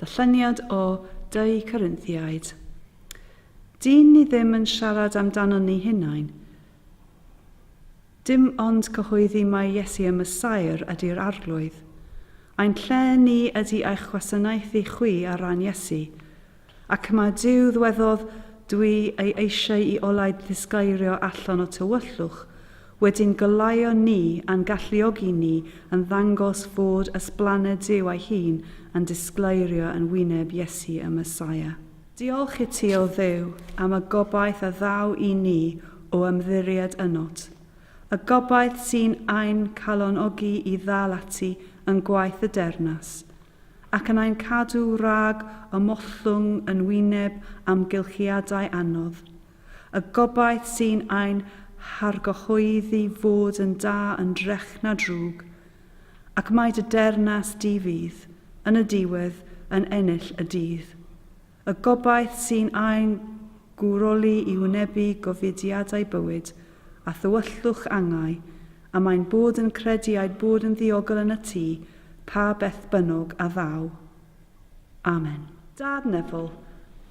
Darlleniad o Dŷ Corinthiaid. Dyn ni ddim yn siarad amdano ni hunain. Dim ond cyhoeddi mai Iesu y Messiah ydy'r Arglwydd. Ein lle ni ydy eich gwasanaethu chwi ar ran Iesu, Ac mae Duw ddwedodd, Dwi ei eisiau i olau ddisgleirio allan o tywyllwch, wedi'n goleuo ni a'n galluogi ni yn ddangos fod ysblaned Duw ei hun yn disgleirio yn wyneb Iesu y Messiah. Diolch i ti, O Dduw, am y gobaith a ddaw i ni o ymddiried ynot, y gobaith sy'n ein calonogi i ddal ati yn gwaith y deyrnas, ac yn ein cadw rhag ymollwng yn wyneb amgylchiadau anodd, y gobaith sy'n ein hargyhoeddi fod yn da yn drech na drwg, ac mai dy dernas di fydd, yn y diwedd, yn ennill y dydd. Y gobaith sy'n ein gwroli i wynebu gofidiadau bywyd a thywyllwch angau, a mae'n bod yn credu a'i bod yn ddiogel yn y tu, pa beth bynnog a ddaw. Amen. Dad Neville,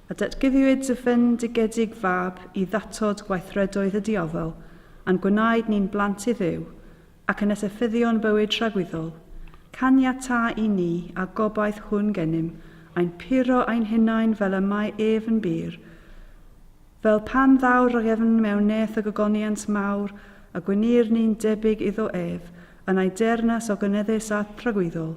a datguddiwyd dy fendigedig fab i ddatod gweithredoedd y diafol, a'n gwnaed ni'n blant i Dduw, ac yn esyffyddion bywyd tragwyddol, caniata i ni a gobaith hwn gennym ein puro ein hunain fel y mae ef yn bur, fel pan ddaw'r rhagefn mewn neth y gogoniant mawr a gwneir ni'n debyg iddo ef yn ei deyrnas o gynyddus a thragwyddol.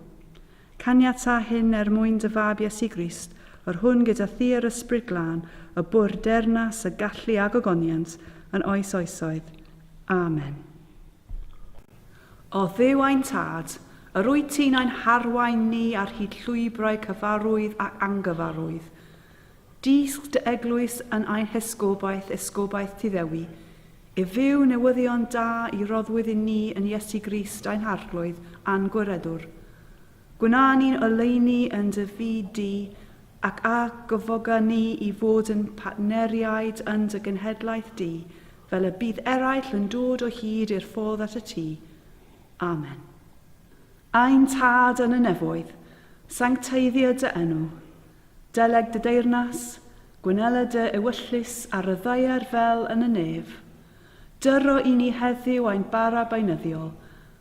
Caniata hyn er mwyn dy Fab Iesu Grist, yr hwn gyda thi yr Ysbryd Glân y bu'r deyrnas, y gallu a gogoniant yn oes oesoedd. Amen. O Dduw ein Tad, yr wyt ti'n ein harwain ni ar hyd llwybrau cyfarwydd ac angyfarwydd. Dysg dy eglwys yn ein hesgobaeth, esgobaeth ti ddewi, i fyw newyddion da i roddwyd i ni yn Iesu Grist ein Harglwydd a'n Gwiredwr. Gwna ni'n oleuni yn dy fyd di, ac a gyfoga ni i fod yn partneriaid yn dy genhedlaeth di, Fel y bydd eraill yn dod o hyd i'r ffordd at y tŷ. Amen. Ein Tad yn y nefoedd, sancteiddio dy enw. Deleg dy deyrnas, gwnela dy ewyllys ar y ddaear fel yn y nef. Dyro i ni heddiw ein bara beunyddiol,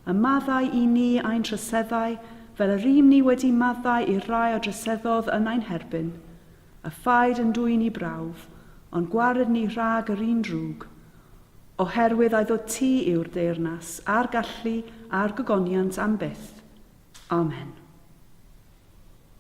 a maddau i ni ein troseddau fel yr ym ni wedi maddau i'r rhai a droseddodd yn ein herbyn. A phaid yn dwyn i brawf, ond gwared ni rhag yr un drwg, oherwydd a'i ddod ti yw'r deyrnas, a'r gallu, a'r gogoniant am byth. Amen.